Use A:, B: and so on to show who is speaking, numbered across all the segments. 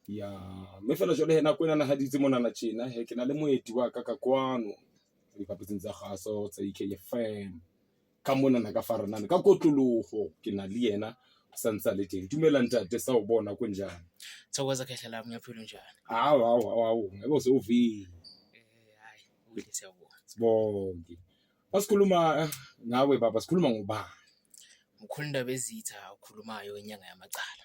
A: ya mme fela jwale he nako e nanahaditse monana tjena he ke na le moeti wa ka ka kwano diphaposing tsa gaso tsa ekfm ka monana ka faranane ka kotlologo ke na le yena o sa ntse a le teng dumela ntate sa o bona ko njane thokoza khehla
B: lami ngiyaphila unjani hawu hawu hawu hawu
A: ngeke use uvile Eh, hayi
B: ubile siyabona sibonge
A: masikhuluma eh, ngawe baba sikhuluma ngobani mkhulu
B: indaba ezitha okhulumayo inyanga yamacala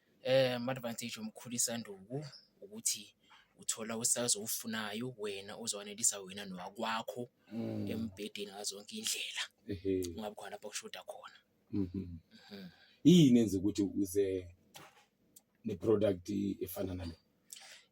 B: Ama-advantage omkhulu isanduku ukuthi uthola u-size owufunayo wena ozowanelisa wena nowakwakho embhedeni ngazo zonke iy'ndlela, kungabi khona lapho kushoda khona. Mhm. Mhm. Yini
A: enza ukuthi uze ne-product efana nale?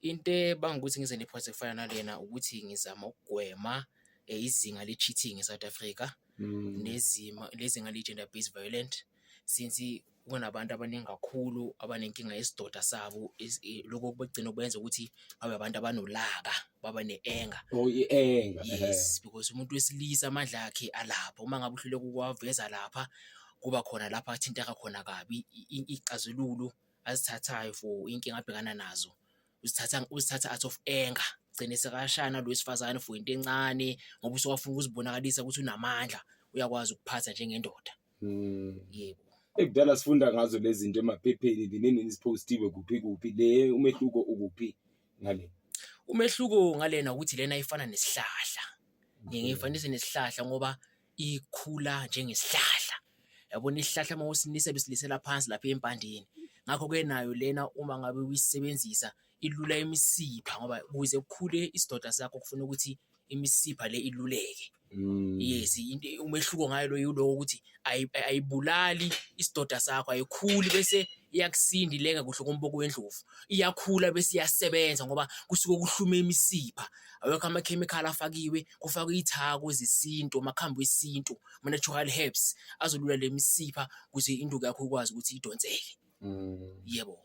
A: Into
B: ebanga ukuthi ngize nephonse kufana nalena ukuthi ngizama ukugwema eh, izinga le-cheating e-South Africa mm. nezima lezinga le-gender based violent since kunabantu abaningi kakhulu abanenkinga yesidoda sabo eh, lokho kubagcina kwenza ukuthi babe abantu abanolaka baba ne-enga oh, i-enga
A: yes because
B: umuntu wesilisa amandla akhe alapha uma ngabe uhluleka ukuwaveza lapha kuba khona lapha athinteka khona kabi ixazululo azithathayo for inkinga abhekana nazo uzithatha uzithatha out of anger gcine sekashana lo wesifazane for into encane ngoba usewafuna ukuzibonakalisa ukuthi unamandla uyakwazi ukuphatha njengendoda hmm. yebo ekudala sifunda
A: ngazo lezi zinto emaphepheni linini isiphostiwe kuphi kuphi le umehluko ukuphi ngale umehluko
B: ngalena ukuthi lena ifana nesihlahla ngiyifanise nesihlahla ngoba ikhula njengesihlahla yabona isihlahla uma usinisa besilisela phansi lapha empandeni ngakho-ke nayo lena uma ngabe uyisebenzisa ilula imisipha ngoba kuze kukhule isidoda sakho kufuna ukuthi imisipha le iluleke mm. yes umehluko ngayo lo yiloko ukuthi ayibulali isidoda sakho ayikhuli bese iyakusinda ileka kuhle komboko wendlovu iyakhula bese iyasebenza ngoba kusuke kuhlume imisipha awekho amakhemikhali afakiwe kufakwe iy'thako zesintu amakhambi wesintu ama-natural herbs azolula le misipha ukuze induku yakho ikwazi ukuthi idonseke mm. yebo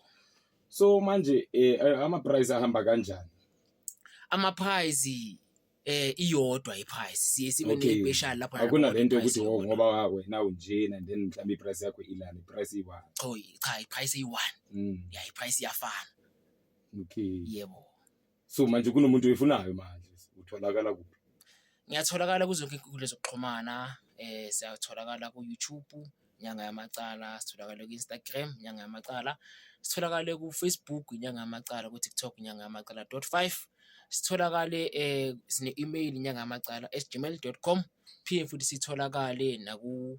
B: so
A: manje eh, eh ama-price ahamba kanjani ama-price
B: eh iyodwa i-price siye sibe okay. ne-special lapho akunalento yokuthi oh,
A: ngoba wena unjena then mhlawumbe i-price yakho ilana i-price iyi-one cha i-price
B: iyi-one mm. ya i-price iyafana okay
A: yebo
B: so manje
A: kunomuntu oyifunayo manje utholakala kuphi ngiyatholakala
B: kuzo zonke inkundla zokuxhumana eh siyatholakala ku YouTube inyanga yamacala sitholakala ku Instagram inyanga yamacala sitholakale ku Facebook inyanga yamacala ku TikTok inyanga yamacala dot five sitholakale eh sine email inyanga yamacala at gmail.com phinde futhi sitholakale naku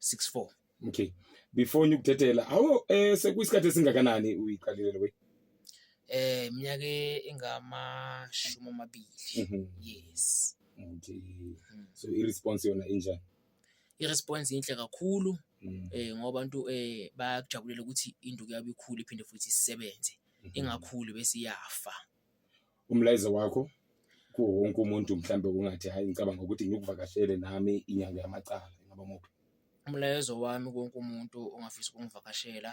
B: 64 okay
A: before ngikuthethela awu eh sekuyisikhathi esingakanani uyiqalile lokho eh
B: iminyaka engamashumi amabili mhm. yes okay
A: mm. so i response yona injani i response
B: inhle kakhulu mm. eh ngoba abantu eh bayakujabulela ukuthi induku yabo ikhulu iphinde futhi isebenze mhm. ingakhulu bese iyafa umlayezo
A: wakho kuwo wonke umuntu mhlambe ungathi hayi ngicabanga ukuthi ngikuvakashele nami inyanga yamacala ingaba muphi umlayezo
B: wami konke umuntu ongafisa ukungivakashela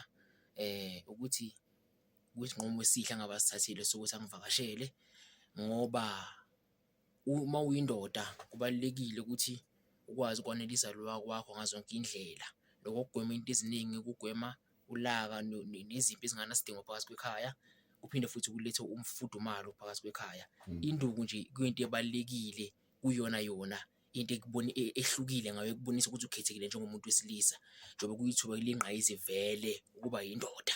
B: eh ukuthi kuyisinqumo esihle ngabasithathile sokuthi angivakashele ngoba uma uyindoda kubalulekile ukuthi ukwazi ukwanela izalo wakwakho ngazo zonke indlela. Loko kugwema into eziningi kugwema ulaka nezimpi ezingenasidingo phakathi kwekhaya. Kuphinde futhi kulethe umfudumalo phakathi kwekhaya. Induku nje kuyinto ebalulekile kuyona yona into ehlukile ngayo ekubonisa ukuthi ukhethekile njengomuntu wesilisa njengoba kuyithuba eliyingqayizivele ukuba yindoda.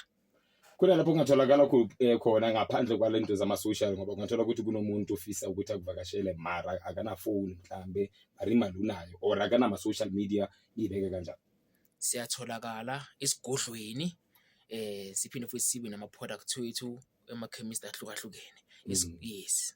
B: kunalapho
A: kungatholakala eh, khona ngaphandle kwalento zama-social ngoba kungathola ukuthi kunomuntu ofisa ukuthi akuvakashele mara akanafoni mhlambe mara imali unayo or akanama-social media ibeke
B: kanjani
A: siyatholakala
B: esigodlweni
A: eh
B: siphinde futhi sibe nama-product wethu emakhemist ahlukahlukene mm. yes